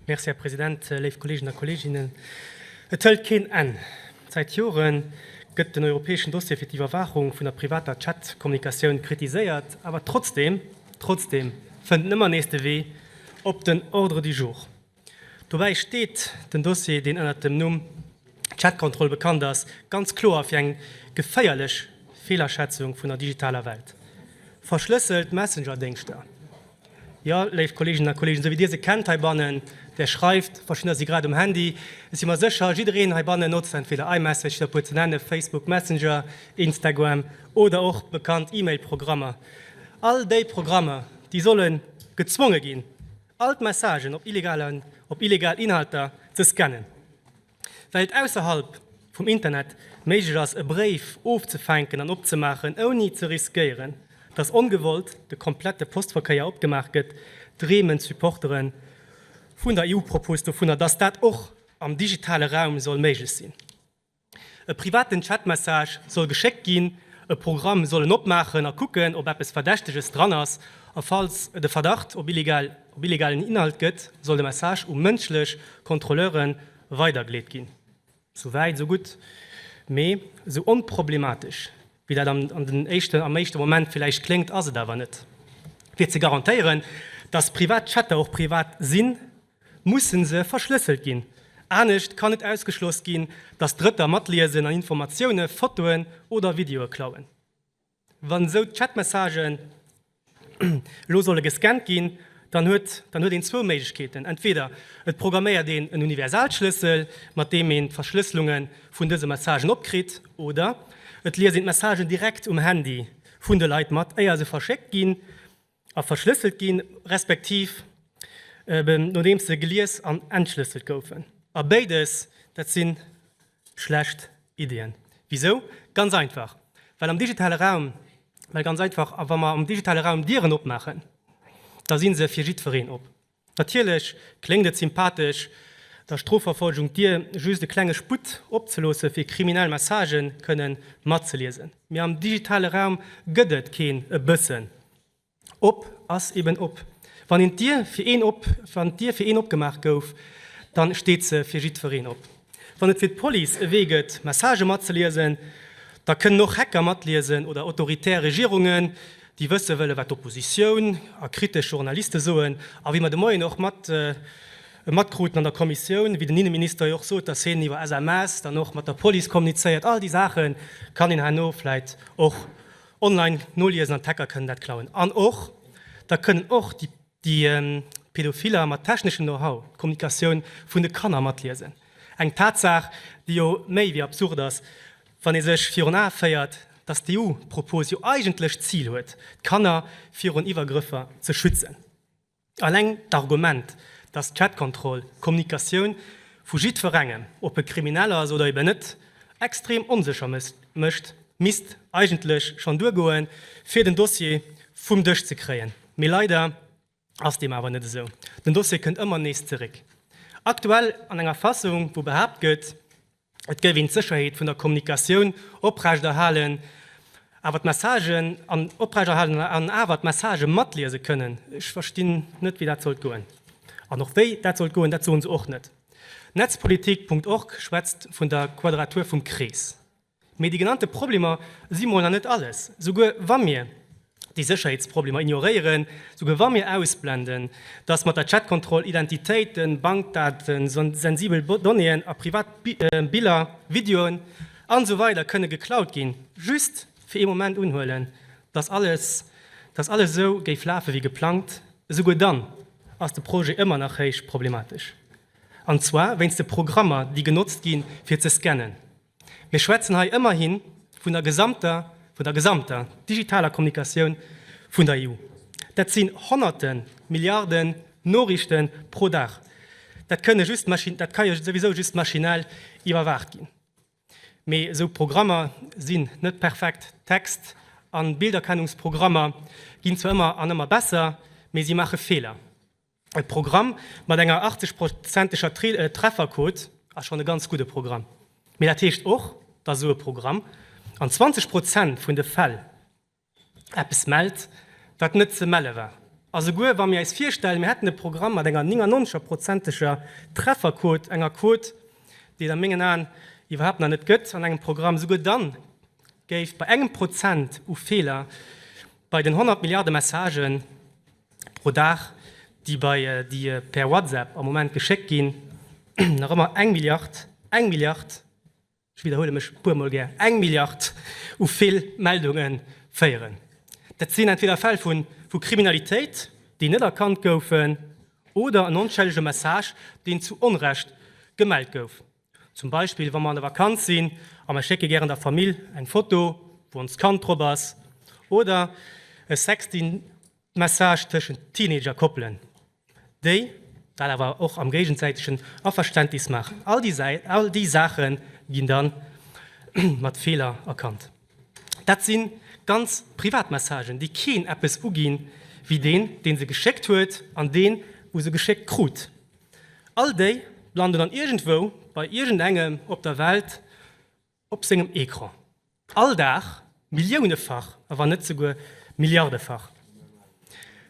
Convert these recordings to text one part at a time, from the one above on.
Merci, Här President. Léif Kolleegen a Kolleeginnen, et hëlt keen Enn. Säit Jore gëtt den europäeschen Dossier fir d'Iwwerwaachung vun der privater Chatkommunikatioun kritiséiert, awer trotzdeem, trotzdeem fënnt en ëmmer nees de Wee op den Ordre du jour. Dobäi steet den Dossier, deen ënner dem Numm Chatkontroll bekannt ass, ganz kloer fir eng geféierlech Feelaschätzung vun der digitaler Welt. Verschlësselt Messengerdéngschter, Jo, léif Kolleeginnen a Kolleegen, esou wéi Dir se kennt heibannen, Där schreift, verschiddener si grad um Handy, ech si mer sécher, jiddereen heibannen notzt entweder iMessage, fir e puer ze nennen, Facebook Messenger, Instagram oder och d'bekannt E-Mail-Programmer. All déi Programmer, déi solle gezwonge ginn, all d'Messagen op illegal Inhalter ze scannen. Well et ausserhalb vum Internet méiglech ass e Bréif ofzefänken an opzemaachen ouni ze riskéieren, datt ongewollt de komplette Postverkéier opgemaach gëtt, dreemen d'Supportere vun der EU-Propose dovunner, datt dat och am digitale Raum soll méiglech sinn. E privaten Chatmessage soll geschéckt ginn, e Programm soll en opmaachen a kucken, ob eppes Verdächteges dran ass, a falls de Verdacht op illegal. Op illegalen Inhalt gëtt, soll de Message u mënschlech Kontrolleure weidergeleet ginn. Sou wäit, sou gutt. Mee sou onproblematesch, wéi dat an den éischten, am éischte Moment villäicht kléngt, ass et awer net. Fir ze garantéieren, dass privat Chatter och privat sinn, musse se verschlësselt ginn. Anescht kann net ausgeschloss ginn, dass Drëtter matliesen an Informatioune, Fotoen oder Videoe klauen. Wann esou d'Chatmessagen elo solle gescannt ginn, dann huet dann huet een zwou Méiglechkeeten, entweder et programméiert een en Universalschlëssel, mat deem een d'Verschlësselunge vun dëse Messagen opkritt, oder et liest een d'Messagen direkt um Handy vun de Leit mat, éier se verschéckt ginn. A verschlësselt ginn, respektiv eben nodeems se gelies an entschlësselt goufen. A béides, dat si schlecht Iddien. Wisou? Ganz einfach, well am digitale Raum, well ganz einfach, a wa mer am digitale Raum Dieren opmaachen, da si se fir jiddwereen op. Natierlech kléngt et sympathesch, der Strofverfolgung d'Dier just e klenge Sputt opzeloossen, fir kriminell Messagë kënne matzeliesen. Mee am digitale Raum gëtt et keen e bëssen. Op ass eben op. Wann d'Dier fir een opgemaach gouf, da steet se fir jiddwereen op. Wann et fir d'Police e Wee gëtt, Messagë matzeliesen, da kënnen och Hacker matliesen oder autoritär Regierungen, déi wësse wëllen, wat d'Oppositioun a kritesch Journaliste soen. A wéi mer de Moien och mat matkruten an der Kommissioun, wéi den Inneminister jo och sot, dass hien iwwer SMS dann och mat der Police kommunizéiert, all déi Saache kann een herno vläicht och online noliesen an d'Hacker kënnen dat klauen. An och, da kënnen och déi. Déi Pedophiller mat techneschem Know-how d'Kommunikatioun vun de Kanner matliesen, eng Tatsaach, déi jo méi wéi absurd ass, wann ee sech virun Ae féiert, datt d'EU-Propos jo eigentlech d'Zil huet, d'Kanner virun Iwwergrëffer ze schützen. Alleng d'Argument, datt d'Chatkontroll d'Kommunikatioun vu jiddwerengem, ob e Kriminell ass oder eben net, extrem onsécher mécht, misst eigentlech schonn duergoen, fir den Dossier vum Dësch ze kréien. Mee leider ass deem awer net esou. Den Dossier kënnt ëmmer nees zeréck. Aktuell an enger Fassung, wou behaapt gëtt, et géif een d'Sécherheet vun der Kommunikatioun oprechterhalen, awer d'Messagen an oprechterhalen an awer d'Messagë matliese kënnen. Ech verstinn net, wéi dat sollt goen. An och wéi dat sollt goen, dat soen se och net. Netzpolitik. Org schwätzt vun der Quadratur vum Krees. Mee déi genannte Problemer si mol nach net alles. Souguer wa mir déi Sécherheetsproblemer ignoréieren, souguer wa mir ausblenden, datt mat der Chatkontroll Identitéiten, Bankdaten, sensibel Donnéeën a privat Biller, Videoen an esou weider kënne geklaut ginn, just fir ee Moment unhuelen, datt alles, datt alles esou géif lafe wéi geplangt, esouguer dann ass de Projet ëmmer nach héich problematesch. An zwar wéinst de Programmer, déi genotzt gi fir ze scannen. Mir schwätzen hei ëmmerhi vun der gesamter, vun der gesamter digitaler Kommunikatioun vun der EU. Dat sinn Honnerte Milliarden Noriichte pro Dag. Dat kënne just, dat ka jo souwisou just maschinell iwwerwaacht ginn. Mee esou Programmer sinn net perfekt. Text an Bilderkennungsprogrammer ginn zwar ëmmer an ëmmer besser, mee si maache Feeler. E Programm mat enger 80 prozenteger Trefferquote ass schonn e ganz gudde Programm. Mee dat heescht och, datt esou e Programm an 20 Prozent vun de Fäll eppes mellt, wat net ze melle war. A souguer wa mir eis virstellen, mir hätten e Programm mat enger 99 prozenteger Trefferquote, enger Quote, déi et a mengen Aen iwwerhaapt nach net gëtt an engem Programm, souguer dann géif bei engem Prozent u Feeler bei den 100 Milliarde Messagen Pro Dag, déi bei déi per WhatsApp am Moment geschéckt ginn, nach ëmmer eng Milliard, eng Milliard, ech widderhuele mech e puermol gär, eng Milliard u vill Meldunge féieren. Dat sinn entweder Fäll vu Kriminalitéit, déi net erkannt goufen, oder en onschëllege Message, deen zu Onrecht gemellt gouf. Zum Beispill wa mer an der Vakanz sinn a mer schécke gären der Famill eng Foto, wou onst Kand drop ass, oder e Sexting-Message tëschent Teenager-Koppelen, déi dat awer och am géigensäitegen Averständnis maachen. All déi Saache ginn da mat Feeler erkannt. Dat si ganz privat Messagen, déi keen eppes uginn, wéi deen, dee se geschéckt huet, an deen, u se geschéckt krut. All déi landen dann iergendwou bei iergendengem op der Welt op sengem Ecran. All Dag, milliounefach, a wann net souguer milliardefach.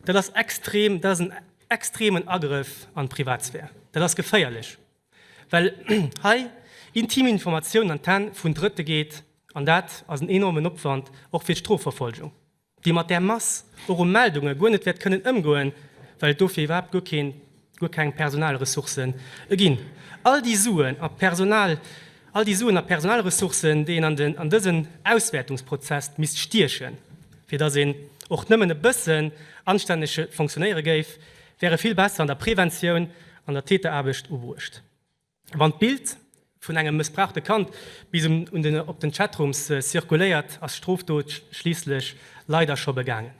Dat ass extrem, dat ass en extremen Agrëff an d'Privatsphär. Dat ass geféierlech, well hei intim Informatiounen an d'Hänn vun Drëtte geet, an dat ass en enormen Opwand och fir d'Strofverfolgung. déi mat där Mass viru Meldunge guer net wäert kënnen ëmgoen, well et dofir iwwerhaapt guer keen, guer keng Personalressourcen ginn. All déi Suen a Personal, all déi Suen a Personalressourcen, déi een an an dësen Auswäertungsprozess misst stiechen, fir datt een och nëmmen e bëssen anstänneg fonctionnéiere géif, wäre vill besser an der Preventioun, an der Täteraarbecht ubruecht. Wann d'Bild vun engem mëssbrauchte Kand bis un op den Chatrooms zirkuléiert, ass d'Strofdot schliisslech leider scho begaangen.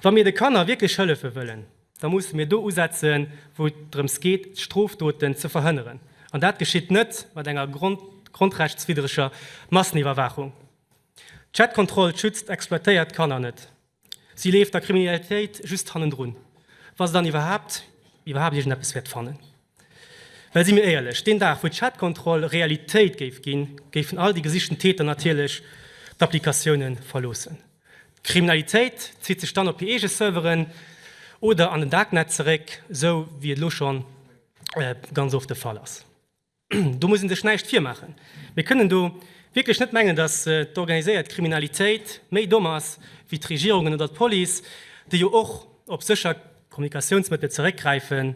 Wa mir de Kanner wierklech hëllefe wëllen, da musse mir do usetzen, wou et drëms geet, d'Strofdoten ze verhënneren. An dat geschitt net mat enger grondrechtswiddreger Masseniwwerwaachung. D'Chatkontroll schützt exploitéiert Kanner net. Si leeft der Kriminalitéit just hannendrun, wa se dann iwwerhaapt iwwerhaapt iergendeppes wäert fannen. Well si mir éierlech, deen Dag wou d'Chatkontroll Realitéit géif ginn, géifen all déi gesichten Täter natierlech d'Applikatioune verloossen. D'Kriminalitéit zitt sech dann op hir eege Serveren oder an den Darknet zeréck, esou wéi et elo scho ganz oft de Fall ass. Do muss ee sech näischt virmaachen, mir kënnen do wierklech net mengen, datt d'organiséiert Kriminalitéit méi domm ass wéi d'Regierungen oder d'Police, déi jo och op sécher Kommunikatiounsmëttel zeréckgräifen,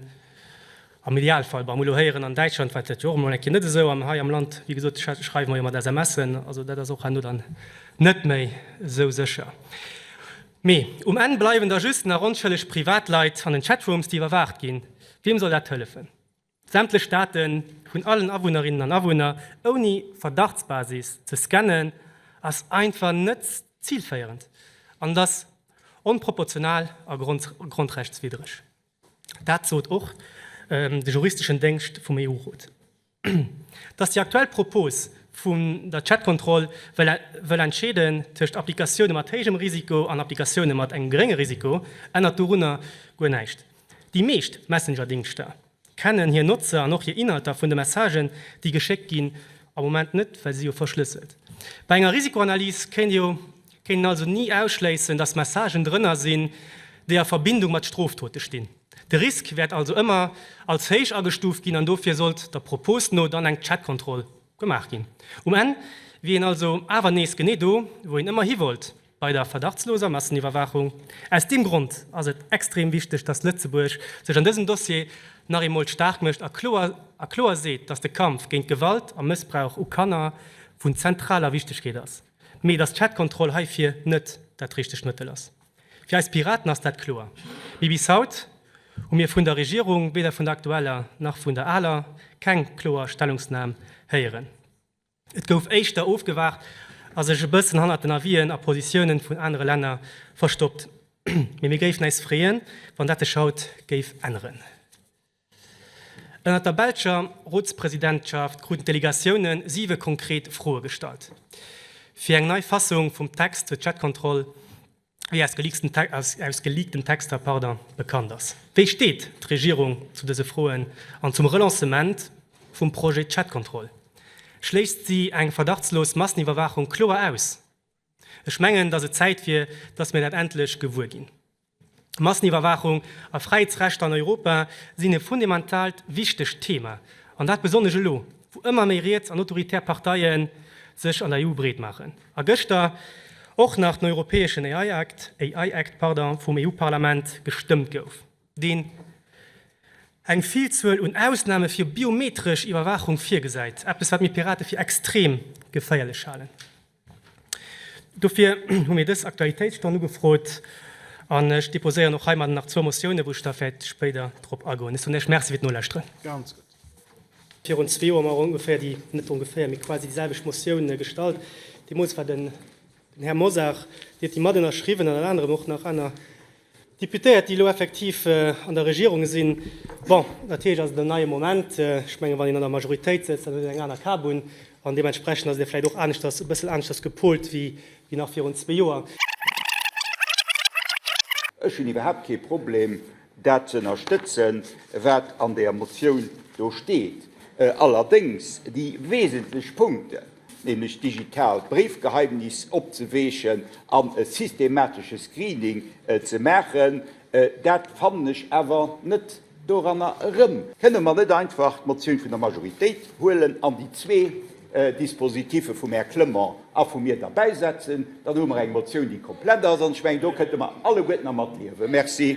am Idealfall. Wa mer elo héieren, an Däitschland war dat jo och emol eng Kéier net esou, an hei am Land, wéi gesot, schreiwe mer jo mat SMSen, also dat ass och herno dann net méi esou sécher. Mee um Enn bleiwen da just nach onschëlleg Privatleit an den Chatrooms, déi iwwerwaacht ginn. Wiem soll dat hëllefen? Sämtlech Daten vun allen Awunnerinnen an Awunner ouni Verdachtsbasis ze scannen, ass einfach net zilféierend an ass onproportional a grondrechtswiddreg. Dat sot och de juristeschen Déngscht vum EU-Rot. Dass déi aktuell Propos vun der Chatkontroll wëll entscheeden tëscht Applikatioune mat héijem Risiko an Applikatioune mat engem gerénge Risiko, ännert dorunner guer näischt. Déi meescht Messenger-Dingschter kennen hir Notzer an och hir Inhalter vun de Messagen, déi geschéckt ginn, am Moment net, well si jo verschlësselt. Bei enger Risikoanalys kéint een also ni ausschléissen, dass Messagen drënner sinn, déi a Verbindung mat Stroftote stinn. De Risk wäert also ëmmer als héich agestuuft ginn an dofir sollt der Propos no dann eng Chat-Kontroll Gemaach ginn. Um Enn wier een also awer nees genee do, wou een ëmmer hiwollt, bei der verdachtsloser Masseniwwerwaachung. Aus deem Grond ass et extrem wichteg, dass Lëtzebuerg sech an dësem Dossier nach eemol staark mécht a kloer a kloer seet, dass de Kampf géint Gewalt a Mëssbrauch u Kanner vun zentraler Wichtegkeet ass, mee dass d'Chatkontroll heifir net dat richtegt Mëttel ass. Fir eis Piraten ass dat kloer. Mee bis haut hu mir vun der Regierung, weder vun der aktueller nach vun der aler, keng kloer Stellungsnam héieren. Et gouf éischter ofgewaacht a sech e bëssen hannert den Avisen a Positiounen vun anere Länner verstoppt. Mee mir géifen äis freeën, wann dat sech haut géif änneren. Ënnert der belscher Rotspresidentschaft kruten d'Delegatioune siwe konkret Froe gestallt, fir eng nei Fassung vum Text zur Chatkontroll, wéi aus geleakten Texter bekannt ass. Wéi steet d'Regierung zu dëse Froen an zum Relancement vum Projet Chatkontroll? Schléisst si eng verdachtslos Masseniwwerwaachung kloer aus? Ech mengen, dass et Zäit wier, dass mir dat endlech gewuer ginn. Masseniwwerwaachung a Fräiheetsrechter an Europa sinn e fundementaalt wichtegt Thema, an dat besonnesch elo, wou ëmmer méi riets an autoritär Parteie sech an der EU breet maachen a gëschter och nach den europäeschen AI Act, AI Act, pardon, vum EU-Parlament gestëmmt gouf, deen eng Villzuel un Ausname fir biometresch Iwwerwaachung virgesäit, eppes, wat mir Pirate fir extrem geféierlech halen. Dofir hu mir dës Aktualitéitsstonn ugefrot an ech déposéieren och heimadden nach zwou Motiounen, wou ech da vläicht spéider drop agoen. Ech soen Iech Merci fir d'Nolauschteren. Virun zwee Joer hu mer ongeféier déi, net ongeféier, mee quasi déi selwecht Motioun gestallt. Deemools war den Här Mosar, déi huet déi matënnerschriwwen an ënner anerem och nach aner D'Deputéiert, déi elo effektiv an der Regierung sinn, bon, dat heescht, ass et en neie Moment. Ech mengen, wann een an der Majoritéit sëtzt, dann huet een eng aner Kabunn an deementsprechend ass et da vläicht och aneschters, e bëssel aneschters gepolt wéi nach virun zwee Joer. Ech hunn iwwerhaapt kee Problem, dat ze ënnerstëtzen, wat an där Motioun do steet. Allerdéngs déi wesentlech Punkten, nämlech d'digitaalt Bréifgeheimnis opzeweechen an e systematesche Screening ze maachen, dat fannen ech awer net doranner erëm. Kënne mer net einfach d'Motioun vun der Majoritéit huelen an déi zwee Dispositive vum Här Clement a vu mir derbäisetzen? Dann hu mer eng Motioun, déi komplett ass, an ech mengen, do kënnte mer alleguerten dermat liewen. Merci.